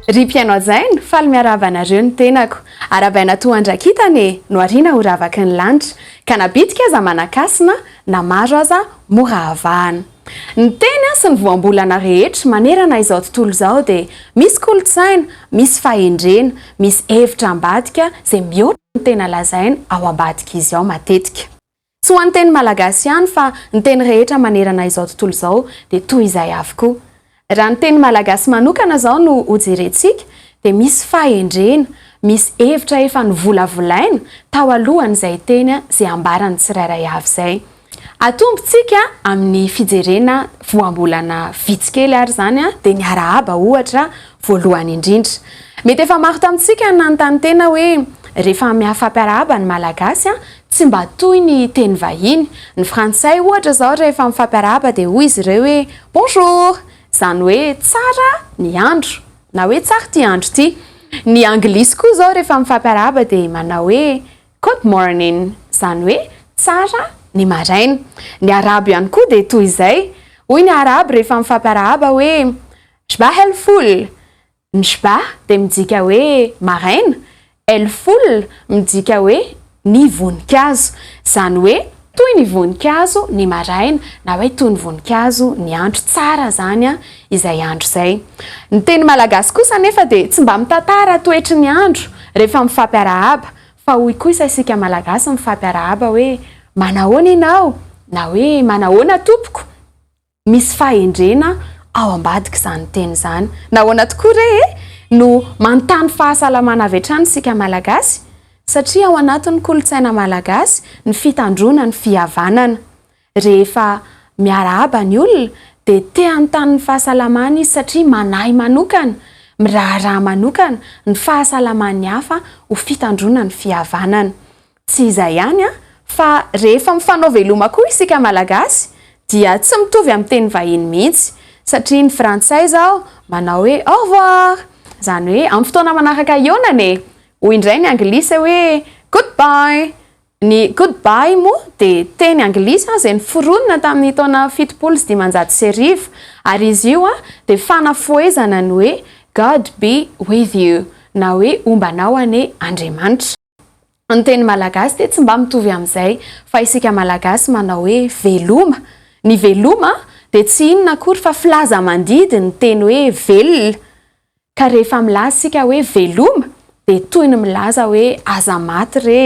Ry mpihaino hajaina, faly miarahaba anareo ny tenako. Arabaina toa andrakitana e, nohariana ho ravaky ny lanitra. Ka na bitika aza manan-kasina, na maro aza mora avahana. Ny tena sy ny voambolana rehetra manerana izao tontolo izao dia misy kolontsaina, misy fahendrena, misy hevitra ambadika izay mihoatra ny tena lazaina ao ambadik'izy ao matetika. Tsy ho an'ny teny malagasy ihany fa ny teny rehetra manerana izao tontolo izao dia toy izay avokoa. Raha ny teny malagasy manokana izao no hojerentsika dia misy fahendrena, misy hevitra efa novolavolaina tao alohan'izay teny sy ambaran'ny tsirairay avy izay. Atombontsika amin'ny fijerena voambolana vitsy kely ary izany dia ny arahaba ohatra voalohany indrindra. Mety efa maro tamintsika nanontany tena hoe rehefa mihafampiarahaba ny malagasy Tsy mba toy ny teny vahiny. Ny frantsay ohatra izao rehefa mifampiarahaba dia hoy izy ireo hoe Bonjour! izany hoe tsara ny andro na hoe tsara ity andro ity. Ny anglisy koa izao rehefa mifampiarahaba dia manao hoe Good morning! izany hoe tsara ny maraina. Ny arabo ihany koa dia toy izay. Hoy ny arabo rehefa mifampiarahaba hoe Shbah el-foul! Mshba dia midika hoe maraina, el full midika hoe ny voninkazo. Izany hoe toy ny voninkazo ny maraina na hoe toy ny voninkazo ny andro. Tsara izany an, izay andro izay. Ny teny malagasy kosa anefa dia tsy mba mitantara toetry ny andro rehefa mifampiarahaba fa hoy kosa isika malagasy mifampiarahaba hoe manahoana ianao na hoe manahoana tompoko. Misy fahendrena ao ambadik'izany teny izany. Nahoana tokoa re e? No manontany fahasalamana avy hatrany isika Malagasy, satria ao anatin'ny kolontsaina Malagasy ny fitandroana ny fihavanana. Rehefa miarahaba ny olona dia te hanontany ny fahasalamany izy satria manahy manokana, miraharaha manokana ny fahasalaman'ny hafa ho fitandroana ny fihavanana. Tsy izay ihany an, fa rehefa mifanao veloma koa isika Malagasy dia tsy mitovy amin'ny teny vahiny mihitsy, satria ny frantsay izao manao hoe au revoir, izany hoe amin'ny fotoana manaraka hihaonana e! hoy indray ny anglisy hoe good bye, ny good bye moa dia teny anglisy izay noforonina tamin'ny taona fitopolo sy dimanjato sy arivo, ary izy io dia fanafohezana ny hoe God be with you na hoe homba anao anie Andriamanitra. Ny teny malagasy dia tsy mba mitovy amin'izay fa isika malagasy manao hoe veloma. Ny veloma dia tsy inona akory fa filaza-mandidy ny teny hoe velona. Ka rehefa milaza isika hoe veloma dia toy ny milaza hoe aza maty re.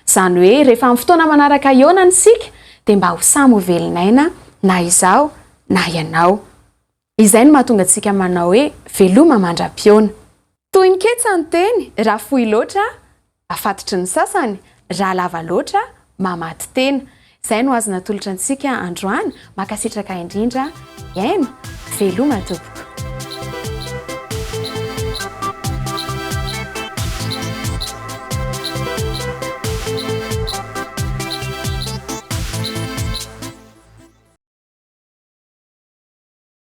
Izany hoe rehefa amin'ny fotoana manaraka ionany isika dia mba ho samy ho velon'aina na izaho na ianao. Izay no mahatonga antsika manao hoe veloma mandra-pihaona. Toy ny ketsa ny teny, raha fohy loatra, afatotry ny sasany, raha lava loatra, mamaty tena. Izay no azo natolotra antsika androany, mankasitraka indrindra, miaino, veloma tompoko.